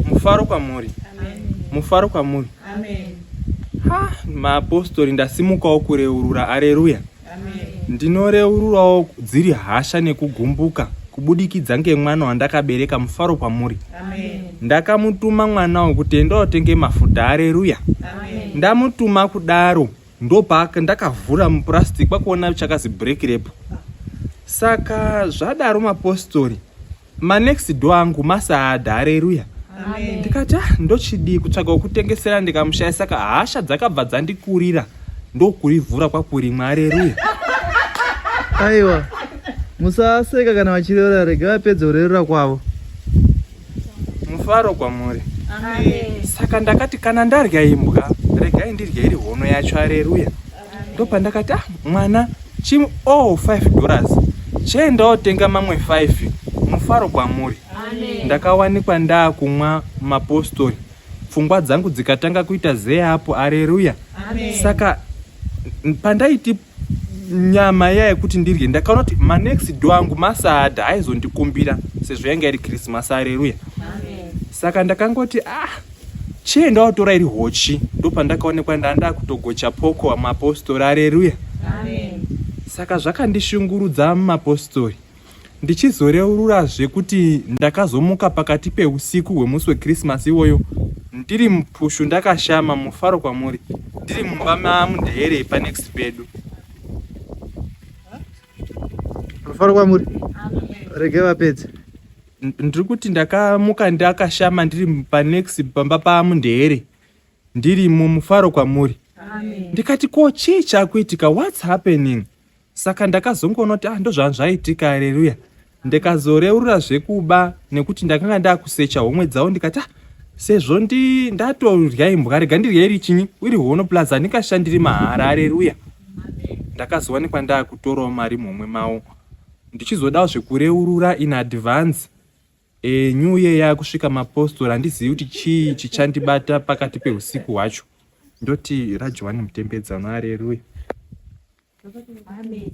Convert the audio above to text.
Mufaro kwamuri. Mufaro kwamuri. Ha, maapostori ndasimukawo kureurura. Areruya. Ndinoreururawo dziri hasha nekugumbuka kubudikidza ngemwana wandakabereka mufaro kwamuri. Ndakamutuma mwana wekuti enda otenge mafuta. Areruya. Ndamutuma kudaro ndopaka ndakavhura mupurastic kwakuona chakazi break repo. Saka zvadaro mapostori. ma next door angu masaada hareruya ndikati ah, ndochidii kutsvaga wekutengesera ndikamushaya saka hasha dzakabva dzandikurira ndokurivhura kwakurimwa hareruya aiwa musaseka kana vachirevera rega vapedze kurerera kwavo mufaro kwamuri saka ndakati kana ndarya imbwa regai ndirye iri hono yacho areruya ndopandakati ah, mwana chim oh 5 dollars chiendawo tenga mamwe 5 mufaro kwamuri ndakawanikwa ndaakumwa mapostori pfungwa dzangu dzikatanga kuita zee apo areruya saka pandaiti nyama iya yekuti ndirye ndakaona kuti manext do angu masada aizondikumbira sezvo yanga iri krismas areruya saka ndakangoti ah chee ndawatora iri hochi ndopandakaonekwa ndanda kutogocha poko mapostori areruya saka zvakandishungurudza mapostori ndichizoreurura zvekuti ndakazomuka pakati peusiku hwemusi wekrisimasi iwoyo ndiri mupushu ndakashama mufaro kwamuri ndiri mumba mamundeyerei panext pedu mufaro kwamuri rege vapedze ndiri kuti ndakamuka ndakashama ndiri panext pamba pamundere ndiri mumufaro kwamuri ndikati ko chii chakuitika whats happening saka ndakazongoona kuti ah ndozvanhu zvaitika aleluya ndikazoreurura zvekuba nekuti ndakanga ndakusecha homwe dzavo ndikati ah sezvo ndi ndatodya imbwa rega ndirye iri chinyi iri hono plus handingashandiri mahara aleluya ndakazowanikwa ndakutorawo mari mumwe mawo Ndichizodawo zvekureurura in advance e, new year yakusvika mapostori handizivi kuti chii chichandibata pakati peusiku hwacho ndoti rajohani mutembedzano areruya Amen.